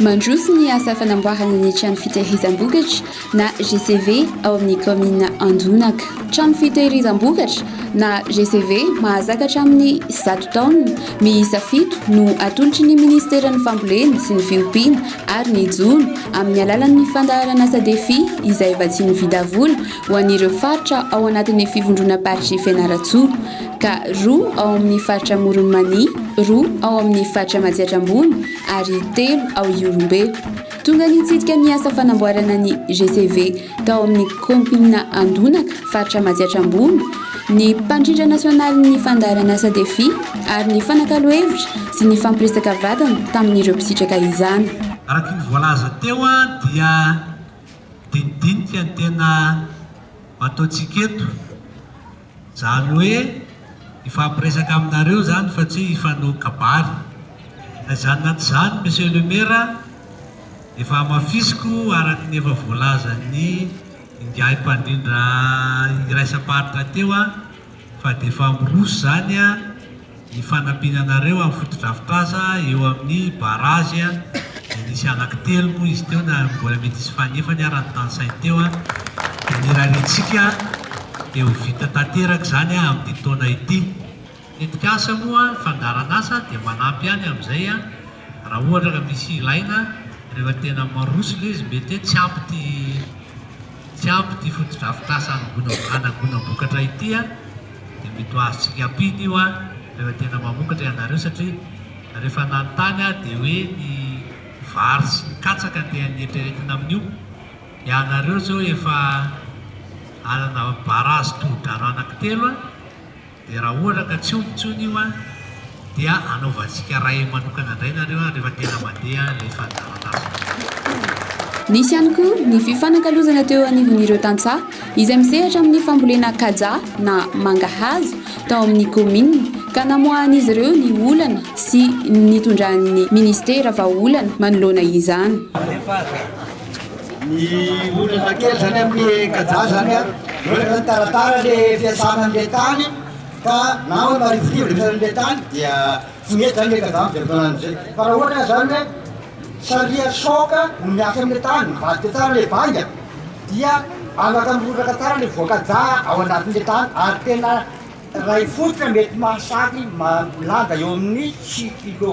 Mandroso ny asa fanamboarana ny trano fitehirizam-bokatra. na GCV, ao amin'ny kaominina Anjonaka. Trano fitehirizam-bokatra, na GCV, mahazaka hatramin'ny zato taonina, miisa fito no atolotry ny Minisiteran'ny Fambolena sy ny Fiompiana ary ny Jono amin'ny alalan'ny fandaharan'asa Defi izay vatsian'ny Vidavola ho an'ireo faritra ao anatin'ny Fivondronam-paritry Fianarantsoa ka roa ao amin'ny faritra Amoron'i Mania, roa ao amin'ny faritra Matsiatra Ambony ary telo ao Ihorombe. Tonga nitsidika ny asa fanamboarana ny GCV tao amin'ny kaominina Andonaka, faritra Matsiatra Ambony, ny mpandrindra nasionalin'ny fandaharan'asa Defi ary ny fanakalo hevitra sy ny fampiresaka vatana tamin'ireo mpisitraka izany. Araka ny voalaza teo dia dinidinika ny tena ataontsika eto. Zany hoe hifampiresaka aminareo zany fa tsy hifanohy kabary. Ka izany na tsy izany Monsieur le Maire a, efa hamafisiko araka ny efa voalazan'ny ingahy mpandrindra iraisam-paritra teo a, fa dia efa miroso izany a, Ny fanampiana anareo amin'ny fotodrafitrasa eo amin'ny barazy dia nisy anaky telo moa izy teo na mbola mety hisy fanefany ary ny tanisainy teo dia nirariantsika dia ho vita tanteraka izany amin'ity taona ity. Tetikasa moa ny fandaharan'asa dia manampy ihany amin'izay raha ohatra ka misy ilaina rehefa tena maroso ilay izy mety hoe tsy ampy ity tsy ampy ity fotodrafitrasa hanagonam-bokatra ity. Dia mety ho azontsika ampita io an! Tena tena mamokatra ianareo satria rehefa nanontany aho dia hoe ny vary sy ny katsaka dia nieritreretina amin'io. Ianareo zao efa hanana barazy tohodrano anankitelo an! Dia raha ohatra ka tsy omby intsony io an! dia anaovantsika ray manokana indray nareo a rehefa tena mandeha ilay fandaharanasonareo. Nisy ihany koa ny fifanakalozana teo anivon'ireo tantsaha izay misehatra amin'ny fambolena kaja na mangahazo tao amin'ny kaominina ka namoahan'izy ireo ny olana sy nitondran'ny minisitera vahaolana manoloana izany. Rehefa ny olana kely izany amin'ny kaja izany a, mihoatra izany taratara ilay fiasana an'ilay tany, Ka na hoe marivorivo ny sarin'ilay tany dia tsy mety izany ilay kajama dia fotoana amin'izay. Fa raha ohatra izany hoe sariha soc no miasa amin'ilay tany, mivadika tsara ilay vainga dia anakamboraka tsara ilay voan-kaja ao anatin'ilay tany ary tena iray fototra mety mahasahy milanja eo amin'ny sivy kilo.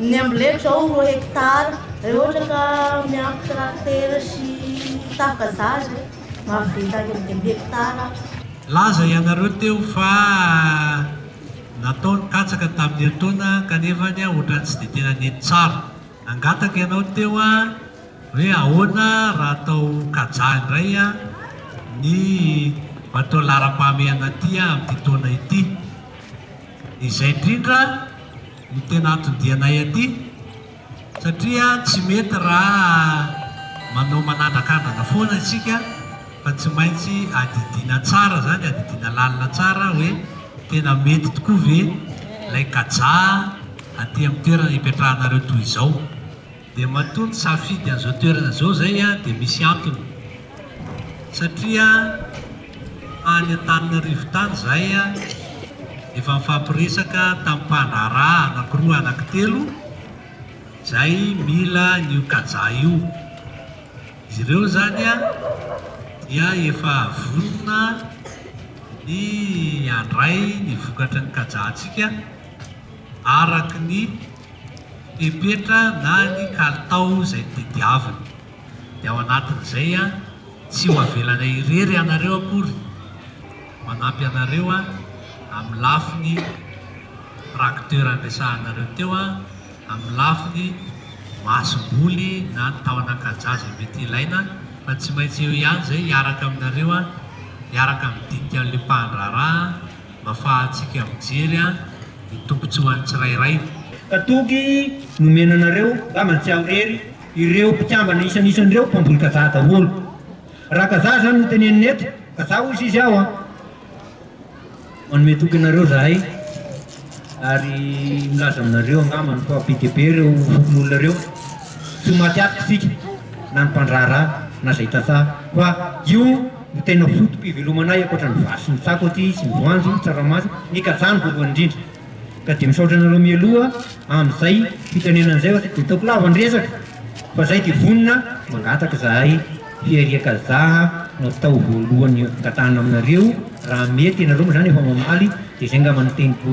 Ny amboletra izao roa hekitara, raha ohatra ka miampy traktera sy tafika za izay, mahavita eo amin'ny dimy hekitara. Nilaza ianareo teo fa natao ny katsaka tamin'ny herintaona kanefa ohatran'ny tsy dia tena nety tsara. Nangataka ianao teo hoe ahoana raha atao kajaha indray ny bateau laharam-pahamehana aty amin'ity taona ity. Izay indrindra no tena anton-dianay aty satria tsy mety raha manao manandrakandrana foana isika fa tsy maintsy adidiana tsara izany, adidiana lalina tsara hoe tena mety tokoa ve ilay kajaha aty amin'ny toerana ipetrahanareo toy izao. Dia matoa ny safidy an'izao toerana izao izay dia misy antony. Satria tany Antananarivo tany izahay efa nifampiresaka tamin'ny mpandraharaha anankiroa anankitelo izay mila an'io kaja io. Izy ireo izany dia efa vonona ny handray ny vokatry ny kaja antsika araka ny. Fepetra na ny kalitao izay tediaviny. Dia ao anatin'izay an, tsy ho avelanay irery ianareo akory, manampy anareo an, amin'ny lafiny tracteur niresahanareo teo an, amin'ny lafiny masomboly na ny tahon'ankaja izay mety ilaina fa tsy maintsy eo ihany izay hiaraka aminareo an, hiaraka amin'ny dikan'ny lipahan-draharaha an. Mafahatsika mijery an ny tombotsoan tsirairay. Katogy nomena anareo ngamba tsy aorery ireo mpikambana isanisany ireo mpamboly kazaha daholo raha kazaha zany no tenenina eto kazaha hoy izy aho an manome toky anareo zahay ary milaza aminareo angambany fa be dia be ireo fokonolona ireo tsy ho maty atika isika na ny mpandraharaha na zay tantsaha fa io no tena foto-pivelomanay ankoatra ny vary sy ny tsako aty sy ny voanjo, tsaramaso, ny kajaha no voalohany indrindra ka dia misaotra anareo mialoha amin'izay fitenenana izay fa tsy dia ataoko lava ny resaka fa izay dia vonona mangataka izahay fiarian-kajaha no atao voalohany angatahana aminareo raha mety ianareo moa izany efa mamaly dia izay angamba no teniko